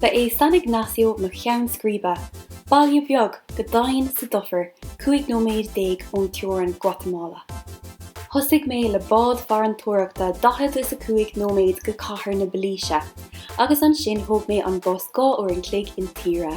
Ba é San Ignacio mo cheann scríbe, baile beag go daingean sa dufair cúig nóiméad déag ón teorainn Guatamala. Thosaigh mé le bád farantóireachta daichead is a cúig nóiméad go Cathair na Belize agus ansin thóg mé an bus dhá uair an chloig intíre.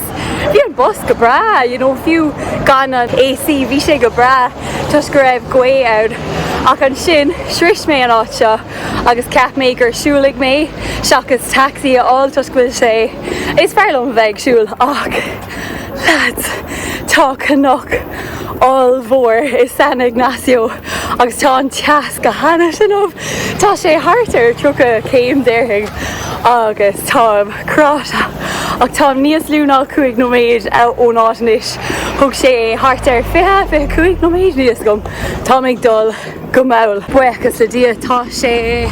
Bhí an bus go breá, you know, fiú gan an AC bhí sé go breá toisc go raibh gaoth ann ach ansin shrois mé an áit seo agus cheap mé gur siúlfaidh mé seachas taxi a fháil toisc go bhfuil sé, is fearr liom a bheith ag siúl ach lads tá cnoc ollmhór i San Ignacio agus tá an teas go hana inniu, tá sé thart ar 30 céim déarfainn agus táim. Cráite, ach táim níos lú ná cúig nóiméad ón áit anois. Thóg sé thart ar fiche, fiche cúig nóiméad, níl a fhios agam. Táim ag dul go mall. Buíochas le Dia tá sé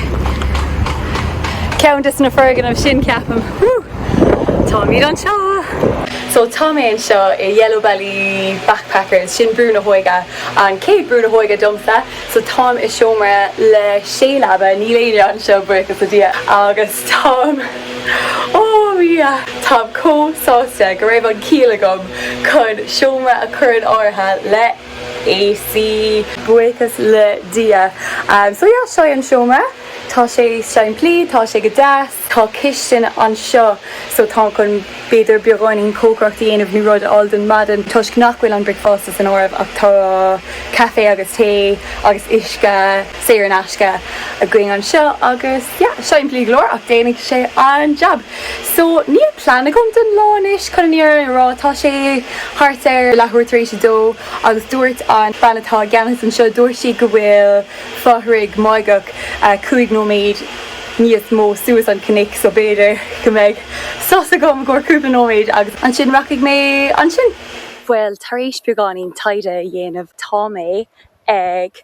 ceann des na foirgnimh sin ceapaim. Woo! Táimid anseo! So tá mé anseo i Yellow Belly Backpackers, sin Brú na hÓige, an chéad Brú na hÓige domsa. So táim i seomra le sé leaba, níl éinne anseo, buíochas le Dia, agus. Táim, oh yeah, táim chomh sásta go raibh an ciall agam chun seomra a chur in áirithe le AC. Buíochas le Dia. So yeah, seo é an seomra. Tá sé simplí, tá sé go deas. Tá cistin anseo so táim chun b'fhéidir beagáinín cócaireacht a dhéanamh nó rud a fháil don mhaidin toisc nach bhfuil an bricfeasta san áireamh ach tá caife agus tae agus uisce. saor in aisce againn anseo agus yeah, simplí go leor ach déanfaidh sé an jab. So níl plean agam don lá anois chun an fhírinne a rá tá sé thart ar leathuair tar éis a dó agus dúirt an bean atá i gceannas anseo, dúirt sí go bhfuil fothraigh Máigheach cúig nóiméad níos mó suas an cnoic so b'fhéidir go mbeidh sos agam i gcomhair cúpla nóiméad agus ansin rachaidh mé ansin. Bhuel, tar éis beagáinín taighde a dhéanamh tá mé ag.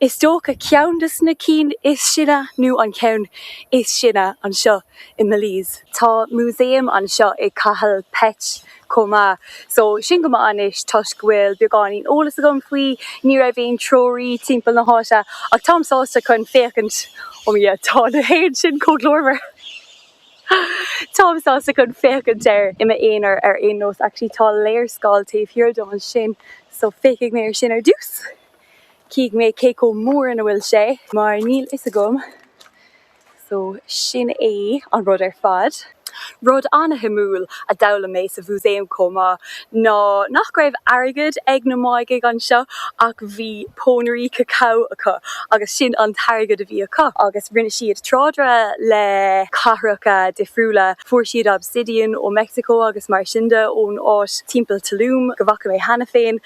Is dócha ceann des na cinn is sine nó an ceann is sine anseo i mBelize. Tá músaem anseo i Cahal Pech chomh maith. So sin go maith anois toisc go bhfuil beagáinín eolas agam faoi. Ní raibh aon treoraí timpeall na háite ach táim sásta chun féachaint. Oh my yeah tá na héin sin chomh glórmhar. Táim sásta chun féachaint air i m'aonar ar aon nós. Actually tá léarscáil taobh thiar dom ansin so féachfaidh mé ar sin ar dtús. Chífidh mé cé chomh mór is a bhfuil sé mar níl fhios agam so sin é an rud ar fad. Rud ana-shuimiúil a d'fhoghlaim mé sa mhúsaem chomh maith ná nach raibh airgead ag na Máighigh anseo ach bhí pónairí cacao acu agus sin an t-airgead a bhí acu agus rinne siad trádáil le cathracha difriúla. Fuair siad obsidian ó Meicsiceo agus mar sin de ón áit timpeall Tulum go bhfaca mé cheana féin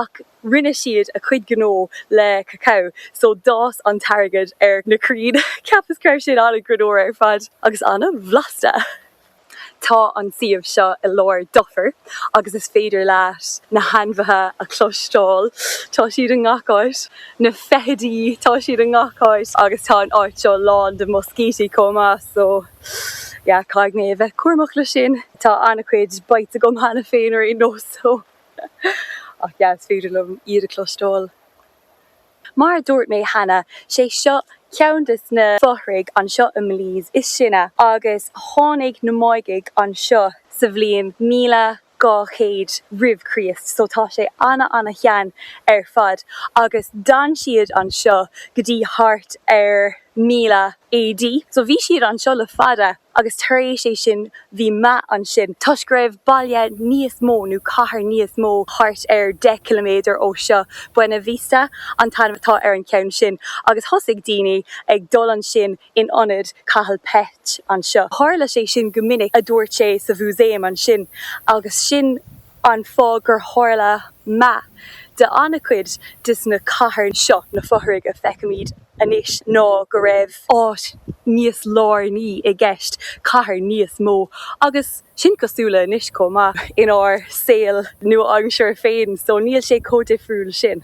ach. rinne siad a cuid gnó le cacao so d'fhás an t-airgead ar na crainn cheapas go raibh sin ana-ghreannmhar ar fad agus an-bhlasta tá an suíomh seo i lár dufaire agus is féidir leat na hainmhithe a chloisteáil tá siad i ngach áit na feithidí tá siad i ngach áit agus tá an áit seo lán de mhoscítí chomh maith so yeah caithfidh mé a bheith cúramach leis sin tá an-chuid bites agam cheana féin ar aon nós so. Ach yeah, is féidir liom iad a chloisteáil. Mar a dúirt mé cheana, sé seo ceann des na fothraigh anseo i mBelize is sine agus tháinig na Máigigh anseo sa bhliain míle dhá chéad roimh Chríost so tá sé ana ana shean ar fad agus d'fhan siad anseo go dtí thart ar 1000 AD so bhí siad anseo le fada. agus tar éis sé sin bhí meath ansin toisc go raibh baile níos mó nó cathair níos mó thart ar 10 km ó seo, Buena Vista an t-ainm atá ar an cheann sin, agus thosaigh daoine ag dul ansin in ionad Cahal Pech anseo. Tharla sé sin go minic, a dúirt sé sa mhúsaem ansin, agus sin. An fáth gur tharla meath de an-chuid des na cathair seo na fothraigh a feicimid anois ná go raibh áit níos lárnaí i gceist, cathair níos mó. Agus sin cosúil le anois chomh maith inár saol nua-aimseartha féin so níl sé chomh difriúil sin.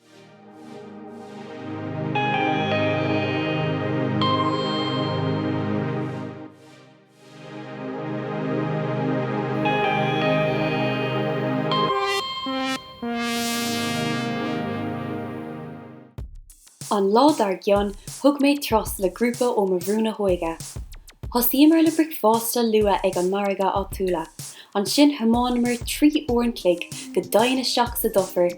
An lá dar gcionn thug mé turas le grúpa ó mo bhrú na hóige. Thosaíomar le bricfeasta luath ag an margadh áitiúla, ansin thiomáineamar trí uair an chloig go doimhin isteach sa dufair,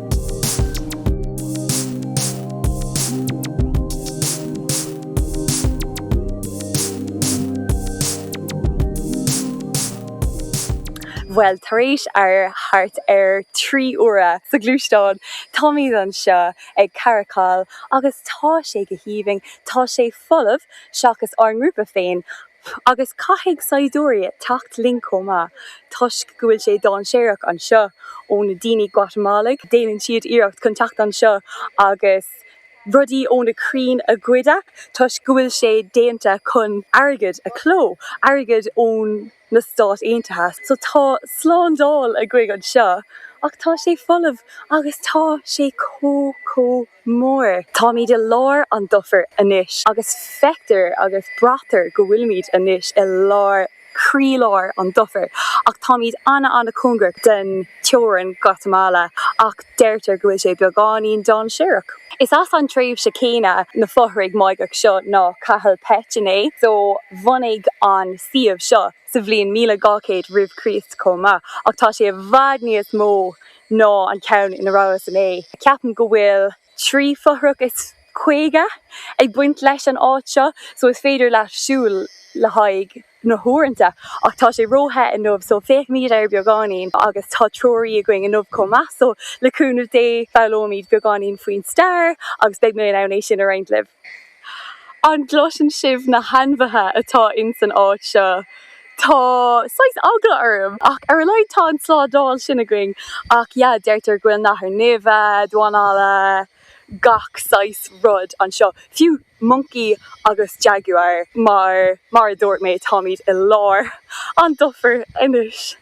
Bhuel, tar éis ar thart ar trí uaire sa ghluaisteán, táimid anseo ag Caracol agus tá sé go haoibhinn. Tá sé folamh, seachas ár ngrúpa féin, Agus caithfidh saighdiúirí teacht linn chomh maith toisc go bhfuil sé dainséarach anseo ó na daoine Guatamalaigh. Déanann siad iarracht chun teacht anseo agus rudaí ó na crainn a ghoid toisc go bhfuil sé déanta chun airgead a chló, airgead ó na Stáit Aontaithe. So tá slándáil againn anseo ach tá sé folamh agus tá sé chomh, chomh. Mór. Táimid i lár an dufair anois agus feictear agus braitear go bhfuilimid anois i lár, croílár an dufair ach táimid ana-ana-chóngarach den teorainn, Guatamala, ach deirtear go bhfuil sé beagáinín dainséarach. Is as an tréimhse céanna na fothraigh Máigheacha seo ná Cahal Pech, so bunaíodh an suíomh seo. sa bhliain míle dhá chéad roimh Chríost chomh maith, ach tá sé i bhfad níos mó ná an ceann ina rabhas inné. Ceapaim go bhfuil trí fothrach is caoga ag baint leis an áit seo, so is féidir leat siúl le haghaidh na huaireanta, ach tá sé ró-the inniu, so féachaimid air beagáinín, agus tá treoraí againn inniu chomh maith, so le cúnamh Dé foghlóimid beagáinín faoin stair agus beidh mé in ann é sin a roinnt libh. An gcloiseann sibh na hainmhithe atá ins an áit seo? Tá saghas eagla orm ach ar a laghad tá an tslándáil sin againn ach yeah deirtear go bhfuil nathair nimhe, damhán alla, gach saghas rud anseo. Fiú moncaí agus jaguar mar mar a dúirt mé táimid i lár an dufair anois.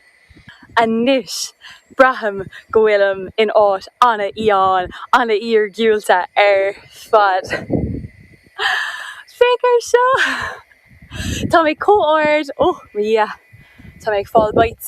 Anois, braithim go bhfuilim in áit an-fhiáin, an-iargúlta ar fad. Féach ar seo! Tá mé chomh hard! Oh, mo Dhia! Tá mé ag fáil bites!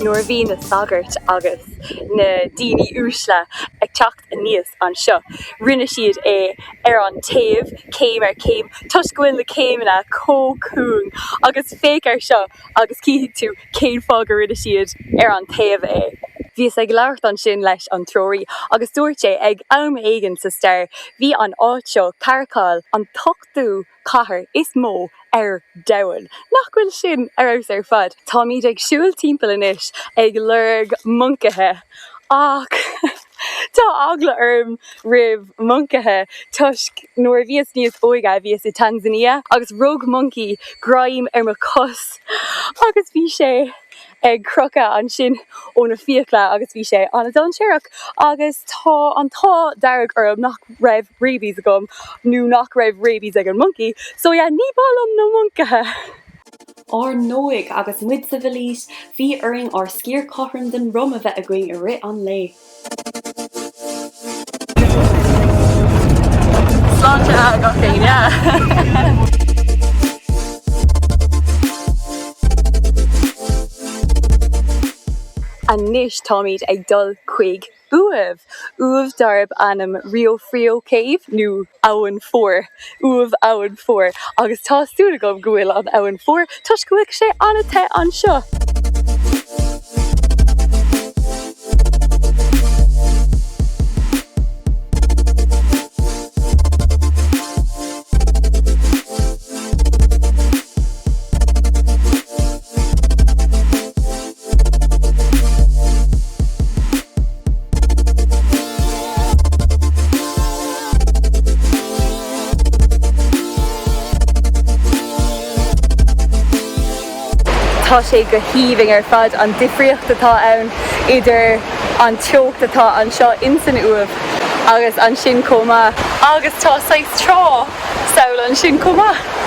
Nuair a bhí na sagairt agus na daoine uaisle ag teacht aníos anseo, rinne siad é ar an taobh, céim ar chéim, toisc go bhfuil na céimeanna chomh cúng. Agus féach ar seo! agus cífidh tú cén fáth go rinne siad ar an taobh é. Bhíos ag labhairt ansin leis an treoraí agus dúirt sé ag am éigin sa stair bhí an áit seo Caracol an t-ochtú cathair is mó ar domhan. Nach bhfuil sin ar fheabhas ar fad? Táimid ag siúl timpeall anois ag lorg moncaithe ach. Tá eagla orm roimh moncaithe toisc nuair a bhíos níos óige bhíos i Tanzania agus rug moncaí greim ar mo chos agus bhí sé ag crochadh ansin ó na fiacla agus bhí sé an-dainséarach agus tá an t-ádh dearg orm nach raibh rabies agam nó nach raibh rabies ag an moncaí so yeah ní maith liom na moncaithe. Ar ndóigh, agus muid sa Bheilís, bhí orainn ár sciar cothrom den rum a bheith againn i rith an lae. Sláinte gach éinne! Anois táimid ag dul chuig uaimh, uaimh darb ainm Rio Frio Cave nó Abhainn Fuar, uaimh Abhainn Fuar agus tá súil agam go bhfuil an abhainn fuar toisc go bhfuil sé an-the anseo. Tá sé go haoibhinn ar fad an difríocht atá ann idir an teocht atá anseo in san Uaimh agus ansin chomh maith. Agus tá saghas trá thall ansin chomh maith.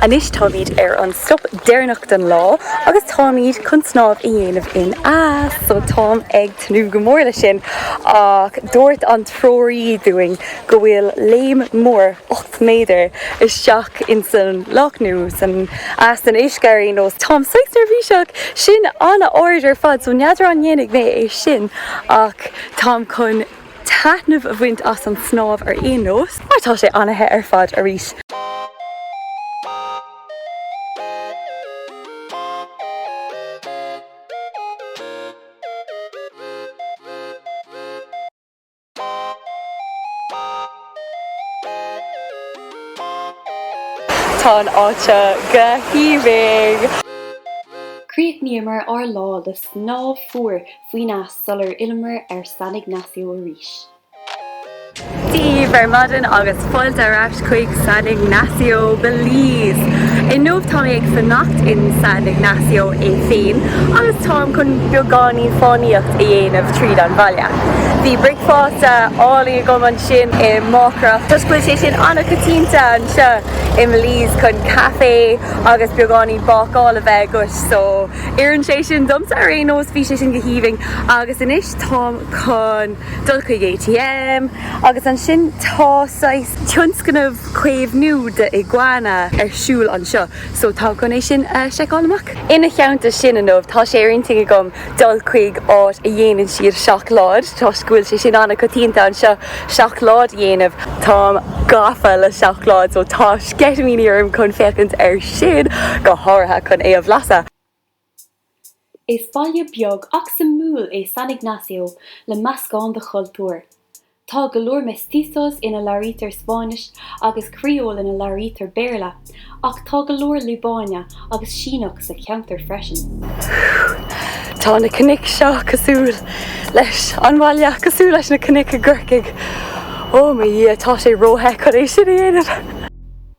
Anois táimid ar an stop deireanach den lá agus táimid chun snámh a dhéanamh in eas so táim ag tnúth go mór leis sin ach dúirt an treoraí dúinn go bhfuil léim mór ocht méadar isteach in san loch nó san eas den uisce ar aon nós. Táim saghas neirbhíseach! Sin an-ard ar fad so n'fheadar an ndéanfaidh mé é sin ach táim chun taitneamh a bhaint as an snámh ar aon nós mar tá sé an-the ar fad arís! Tá an áit seo go haoibhinn! Chríochnaíomar ár lá le snámh fuar faoin eas sular fhilleamar ar San Ignacio arís. Dia daoibh ar maidin agus fáilte ar ais! chuig San Ignacio, Belize! Inniu tá mé ag fanacht in San Ignacio é féin agus táim chun beagáinín fánaíocht a dhéanamh tríd an bhaile. Bhí bricfeasta álainn agam ansin i Máiceach toisc go bhfuil sé sin an-choitianta anseo i mBelize chun caife agus beagáinín bácála bheith agat so oireann sé sin domsa ar aon nós bhí sé sin go haoibhinn agus anois táim chun dul chuig ATM agus ansin tá saghas tionscnamh caomhnú de iguana ar siúl anseo so táim chun é sin a seiceáil amach. Ina theannta sin inniu tá sé ar intinn agam dul chuig áit a dhéanann siad seacláid toisc go bhfuil sé sin an-choitianta anseo seacláid a dhéanamh. Táim gafa le seacláid so tá sceitimíní orm chun féachaint ar sin go háirithe chun é a bhlasadh. Is baile beag ach suimiúil é San Ignacio le meascán de chultúir. Tá go leor mestizos ina labhraítear Spáinnis agus criól ina labhraítear Béarla ach tá go leor Liobáine agus Síneach sa cheantar freisin. Tá na cnoic seo cosúil leis an bhaile cosúil leis na cnoic i gCorcaigh, oh mo Dhia tá sé ró-the chun é sin a dhéanamh!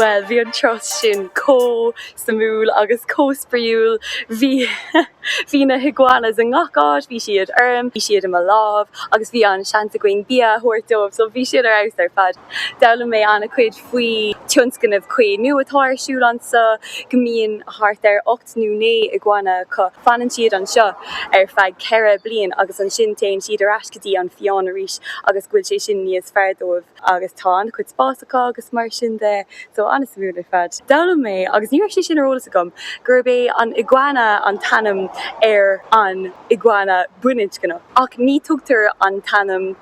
Bhuel, bhí an turas sin chomh suimiúil agus chomh spraíúil. Bhí na higuanas i ngach áit, bhí siad orm, bhí siad i mo lámh agus bhí an seans againn bia a thabhairt dóibh so bhí siad ar fheabhas ar fad. D'fhoghlaim mé an-chuid faoi tionscnamh caomhnú atá ar siúl anso go mbíonn thart ar ocht nó naoi iguana acu. Fanann siad anseo ar feadh ceithre bliain agus ansin téann siad ar ais go dtí an fiáin arís agus go bhfuil sé sin níos fearr dóibh agus tá an-chuid spás acu agus mar sin de so an-suimiúil ar fad. D'fhoghlaim mé, agus ní raibh sé sin ar eolas agam, gurb é an iguana an t-ainm ar an iguana baininscneach ach ní tugtar an t-ainm.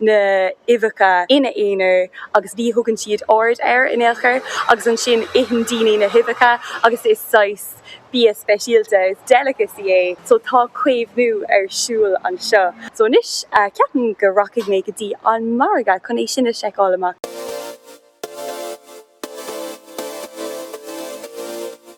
na huibheacha ina aonar agus ní thugann siad aird air in aon chor agus ansin itheann daoine na huibheacha agus is saghas bia speisialta, is delicacy é so tá caomhnú ar siúl anseo. So anois ceapaim go rachaidh mé go dtí an margadh chun é sin a seiceáil amach.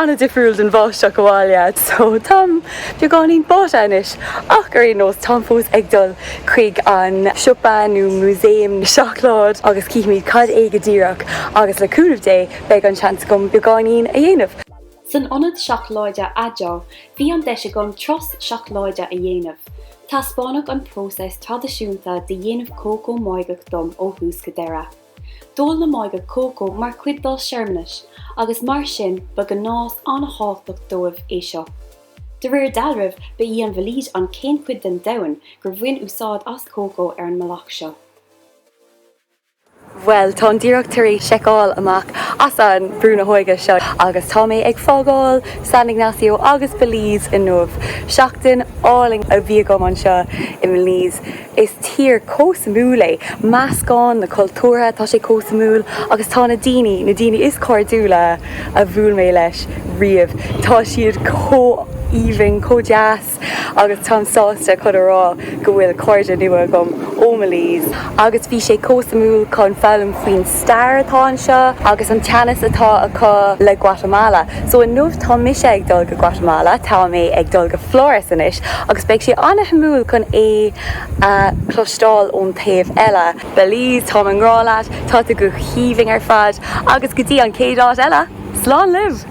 an-difriúil den bháisteach abhaile so táim beagáinín báite anois ach ar aon nós táim fós ag dul chuig an siopa nó músaem seacláid agus cífimid cad é go díreach agus le cúnamh Dé beidh an seans agam beagáinín a dhéanamh. San ionad seacláide Adjo bhí an deis agam turas seacláide a dhéanamh. Taispeánadh an próiseas traidisiúnta de dhéanamh cócó máigeach dom ó thús go deireadh. D'ól na Máigeac cócó mar chuid dá searmanais agus mar sin ba ghnás an-thábhachtach dóibh é seo. De réir dealraimh ba í an Bheilís an chéad chuid den domhan gur bhain úsáid as cócó ar an mbealach seo. Bhuel, táim díreach tar éis seiceáil amach as an Brú na hÓige seo agus tá mé ag fágáil San Ignacio agus Belize inniu. Seachtain álainn a bhí agam anseo i mBelize. Is tír chomh suimiúil é meascán na cultúrtha, tá sé chomh suimiúil agus tá na daoine, na daoine is cairdiúla a bhuail mé leis riamh, tá siad chomh haoibhinn, chomh deas agus táim sásta chun a rá go bhfuil cairde nua agam ó Belize. Agus bhí sé chomh suimiúil chun foghlaim faoin stair atá anseo agus an teannas atá acu le Guatamala. So inniu tá mise ag dul go Guatamala, tá mé ag dul go Flores anois agus beidh sé an-suimiúil chun é a chloisteáil ón taobh eile. Belize, táim i ngrá leat, tá tú go haoibhinn ar fad agus go dtí an chéad áit eile, slán libh!